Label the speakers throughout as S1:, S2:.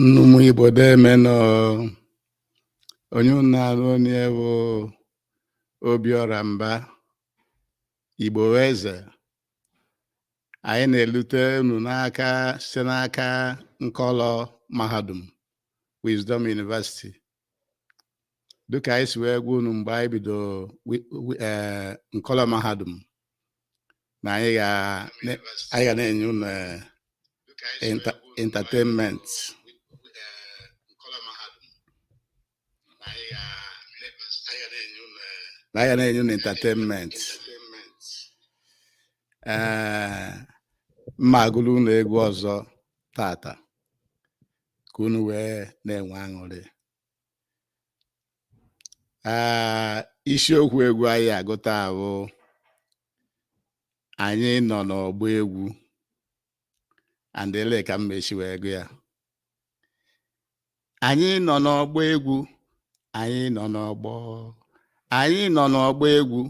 S1: Nnọọ ụmụ Igbo deme nụ onye unu na-anụ onu ye bụ Obiọra Mba Igbo bụ Eze anyị na-elute unu n'aka site n'aka nkọlọ mahadum Wisdom University dịka anyị si wee gwa unu mgbe anyị bido eh, nkọlọ mahadum na anyị ga na-enye unu eh, entertainment na anyị ga na-enye unu entertainment ee eh, m ma-agụlụ unu egwu ọzọ tata ka unu wee na-enwe aṅụrị ah, isiokwu egwu anyị ga-agụ taa bụ anyị nọ n'ọgbọ egwu and ele ka m ma-eshi wee gụ ya anyị nọ n'ọgbọ egwu anyị nọ n'ọgbọ anyị nọ n'ọgbọ egwu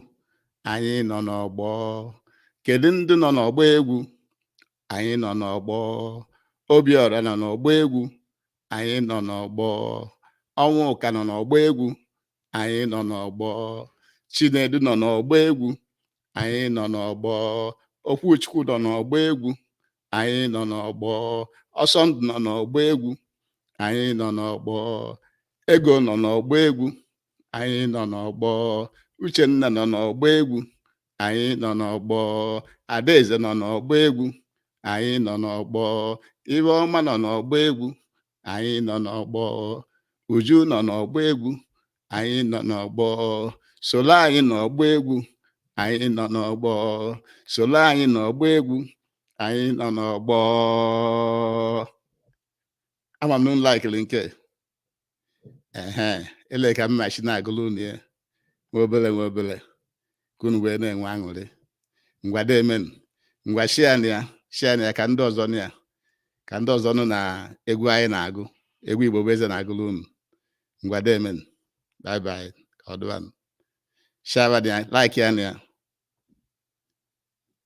S1: anyị nọ n'ọgbọ kedu ndị nọ n'ọgbọ egwu anyị nọ n'ọgbọ obiọra nọ n'ọgbọ egwu anyị nọ n'ọgbọ ọnwụka nọ n'ọgbọ egwu anyị nọ n'ọgbọ chinedu nọ n'ọgbọ egwu anyị nọ n'ọgbọ okwuchukwu nọ n'ọgbọ egwu anyị nọ n'ọgbọ ọsọndụ nọ n'ọgbọ egwu anyị nọ n'ọgbọ ego nọ n'ọgbọ egwu anyị nọ n'ọgbọ uchenna nọ n'ọgbọ egwu anyị nọ n'ọgbọ adaeze nọ n'ọgbọ egwu anyị nọ n'ọgbọ ifeọma nọ n'ọgbọ egwu anyị nọ n'ọgbọ uju nọ n'ọgbọ egwu anyị nọ n'ọgbọ solo anyị n'ọgbọ egwu anyị nọ n'ọgbọ solo anyị n'ọgbọ egwu anyị nọ n'ọgbọ ama m na unu laikiri nke ehe ele ka m ma-eshi na-agụlụ unu ya nwa obele nwa obele ka unu wee na-enwe aṅụrị ngwa deme nụ ngwa share nụ ya share nụ ya ka ndị ọzọ nụ ya ka ndị ọzọ nụ na egwu anyị na-agụ egwu igbo bụ eze na-agụlụ unu ngwa deme nụ bye bye ka ọ dịwanụ share nụ ya likea nụ ya